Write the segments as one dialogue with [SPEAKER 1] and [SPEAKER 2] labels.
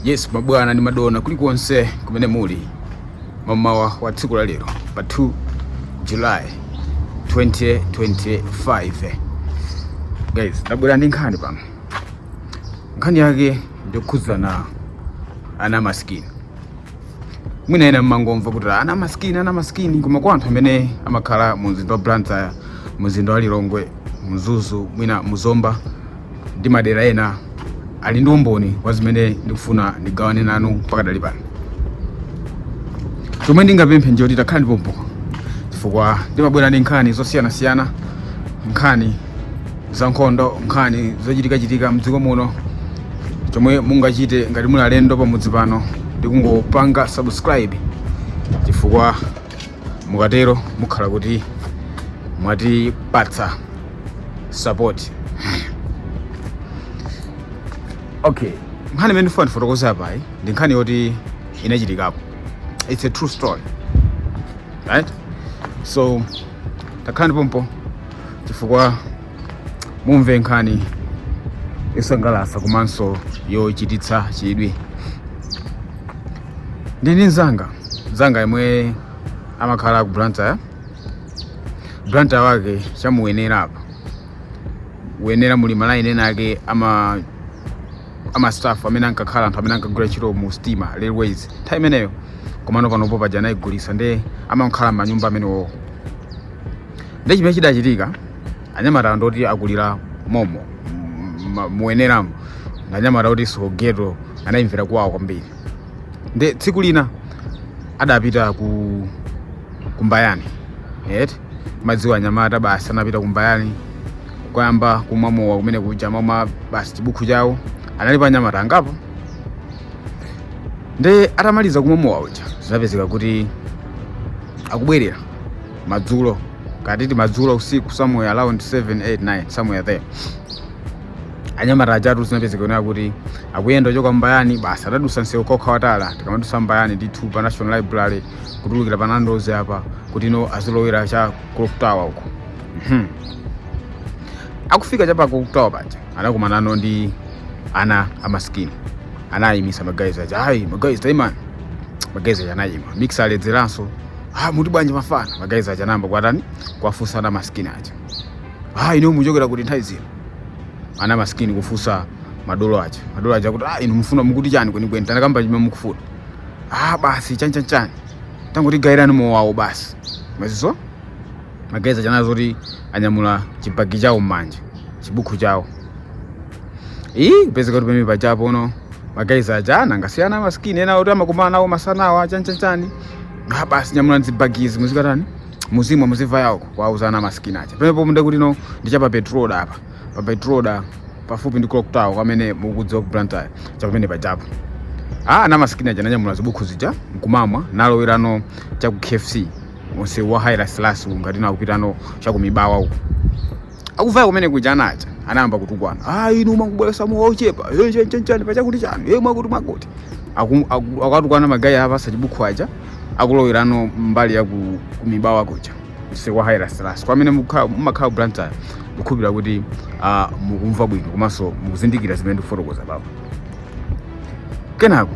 [SPEAKER 1] yes mabwana ndi madona kulikonse kumene muli mamawa wa tsiku la lero pa 2 july 2025 guys ndabwera ndi nkhani pano nkhani yake ndi yokhudza ana masikini mwina ena mmangomva kuti ana masikini ana masikini koma kwa anthu amene amakhala mu mzinda wa blantyre mzinda wa lilongwe mzuzu mwina muzomba ndi madera ena ali ndi umboni wa zimene ndikufuna ndigawane nanu pakadali pano chomwe ndingapemphe nchoti takhalani pompo chifukwa ndimabwera ndi nkhani zosiyanasiyana nkhani za nkhondo nkhani zochitikachitika mdziko muno chomwe mungachite ngati muli alendo pamudzi pano ndikungopanga subscribe chifukwa mukatero mukhala kuti mwatipatsa support okay nkhani imene ndifuna ndifotokoze apayi ndi nkhani yoti inachitikapo it's a true story right so takhalani pompo chifukwa mumve nkhani yosangalatsa komanso yochititsa chidwi ndili ndi mzanga mzanga yemwe amakhala ku blantyre blantyre wake cha mu Ndirande apa uyenera muli malaini ena ake ama ama staff amene ankakhala anthu amene ankagwira ntchito mu stima railways nthawi imeneyo komano panopo paja anayigulitsa nde amakhala manyumba amenewo nde chimene chidachitika anyamata ndoti akulira momo ma- muyeneramu ndi anyamata oti sogeto anayimvera kuwawa kwambiri nde tsiku lina adapita ku mbayani mumadziwa anyamata basi anapita ku mbayani kukayamba kumwa mowa kumene kuja amamwa basi chibukhu chawo analipo anyamata angapo nde atamaliza kumwa mowa uja zinapezeka kuti akubwerera madzulo kapena titi madzulo usiku somewhere around 7 8 9 somewhere there anyamata ajatu zinapezeka kunena kuti akuyenda kuchoka mbayani basi atadutsa msewu kokha watala tikamadutsa mbayani ndithu pa national library kutulukira pa nandos apa kuti no azilowera cha clock tower uko Mhm. akufika cha pa clock tower paja anakumanano ndi ana amaskini anayimitsa magayizi aja ayi magayizi tayimani magayizi aja anayima mix aledzeranso ah muti bwanji mafana ma guys aja namba kwatani kwafunsana ma skin aja ah ino muchokera kuti nthawi zino ana ma skin kufunsa madolo aja madolo aja kuti ah ino mufuna mukuti chani kweni kweni tanakamba chimwe mukufuna ah basi chani chani chani tangoti gairani mowawo basi mazizo ma guys aja nazo kuti anyamula chibagi chawo mmanja chibukhu chawo ii pezeka kuti pamene pachapo uno ma guys aja anangasiyana ma skin ena oti amakumana nawo masanawa chani chani chani Ah, basi nyamulani zibagizi muzikatani muzimwa muzimva yawo kuwauza ana masikini aja pamenepo nde kuti no ndi cha pa petroda pa petroda pafupi ndi clock tower kwa amene mukudziwa ku blantyre chapamene pajapo ana masikini aja ananyamula zibukhu zija nkumamwa nalowerano cha ku kfc mumsewu wa haile selassie ngati nakupitano cha kumibawa uku akuvaya kumene kuja anacha anayamba kutukwana ah inu mwangobweretsa mowa ochepa eh chani chani chani pachakuti chani eh mwakuti mwakuti Aku- aku- akatukwana magayi a pa Chibuku aja akulowerano mbali ya ku- kumibawa kuja msewu wa Haile Selassie kwa amene mukha- mumakhala blantyre kukhulupirira kuti ah, mukumva bwino komanso mukuzindikira zimene ndikufotokoza papa kenako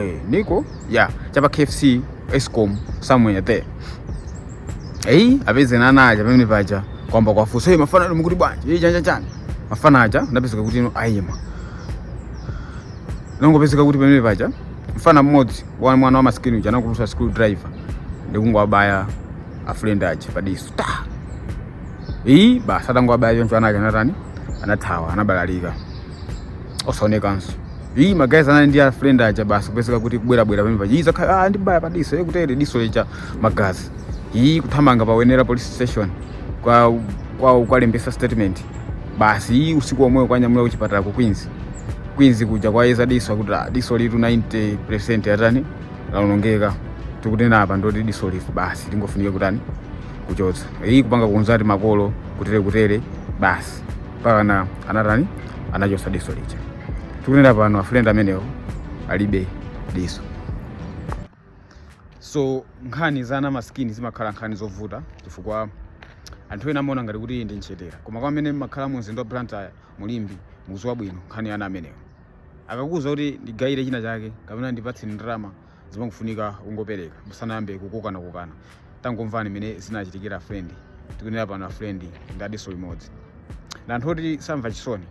[SPEAKER 1] eh, ndiko ya cha pa kfc escom somewhere there eyi apeza ana aja pamene paja kuyamba kuwafunsa hey, mafana inu mukuti bwanji hey, chani chani mafana aja napezeka kuti no ayima nangopezeka kuti pamene paja mfana mmodzi mwana wa masikini uja anatulutsa screw driver ndikungowabaya a friend aja padiso ta iyi basi atangowabaya choncho ana aja anatani anathawa anabalalika osaonekanso Iyi magazi anali ndi a friend aja basi kupezeka kuti kubwera bwera pamene paja. Iyi zakhala ah andibaya pa diso ye kutere diso lija magazi. Iyi kuthamanga pa Wenela police station kwa kwa kukalembetsa statement. Basi iyi usiku womwewo kuwanyamula ku chipatala ku Queens. Queens kuja kuwayeza diso akuti ah, diso ilitu 90% latani laonongeka. Tikunena apa ndi loti diso ili basi lingofunika kutani kuchotsa. Iyi kupanga contact makolo kutere kutere basi. Mpakana anatani anachotsa diso lija. tikunena pano a friend amenewo alibe diso so nkhani za ana masikini zimakhala nkhani zovuta chifukwa anthu ena amaona ngati kuti iyi ndi nchezera koma kwa amene mumakhala mu mzinda wa blantyre mu limbe mukudziwa bwino nkhani ya ana amenewo akakuwuza kuti ndigayire china chake kapena ndipatse ndalama zimangofunika kungopereka musanayambe kukokana kokana tangomvani mmene zinachitikira a friend tikunena pano a friend ndi a diso limodzi ndi anthu oti samva chisoni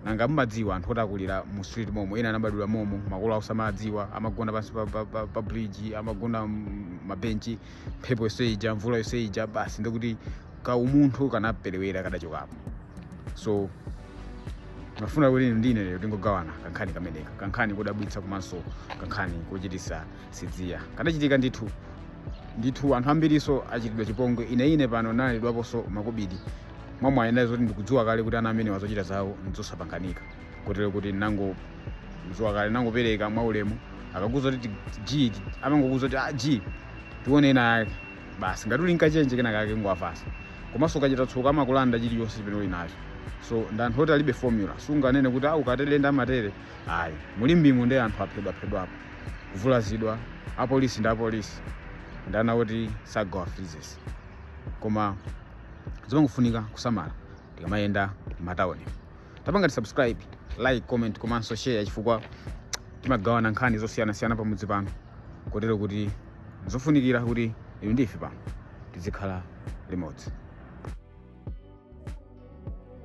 [SPEAKER 1] nanga mumadziwa anthu oti akulira mu street momo ena anabadwira momo makolo awo sawadziwa amagona pansi pa, pa, pa, pa bridge amagona mm, m'mabenchi mphepo yonse ija mvula yonse ija basi ndikuti ka umunthu kanaperewera kadachokapo so ndimafuna kuti inu ndi ine lero tingogawana kankhani kameneka kankhani kodabwitsa komanso kankhani kochititsa tsidya kanachitika ndithu ndithu anthu ambirinso achitidwa chipongwe ine ine pano ndalandidwaponso makobidi mwamwayi nazoti ndikudziwa kale kuti ana amenewa zochita zawo ndizosapanganika kotero kuti nango kudziwa kale ndinangopereka mwaulemu akakuuza kuti g amangokuuza kuti ah, g tione ena yake basi ngati uli ndi kachenje kena kake kungowapatsa komanso ukachita tsoka amakulanda chilichonse chimene uli nacho so ndi anthu oti alibe formula sunganene kuti ah ukatere ndiye amatere ayi mu limbemo ndiye anthu aphedwaphedwapo kuvulazidwa apolisi ndi apolisi ndi ana oti sagawa freezes koma zimangofunika kusamala tikamayenda m'matawuni tapangani tisubscribe like comment komanso share chifukwa timagawana nkhani zosiyanasiyana pamudzi pano kotero kuti nzofunikira kuti inu ndi ife pano tizikhala limodzi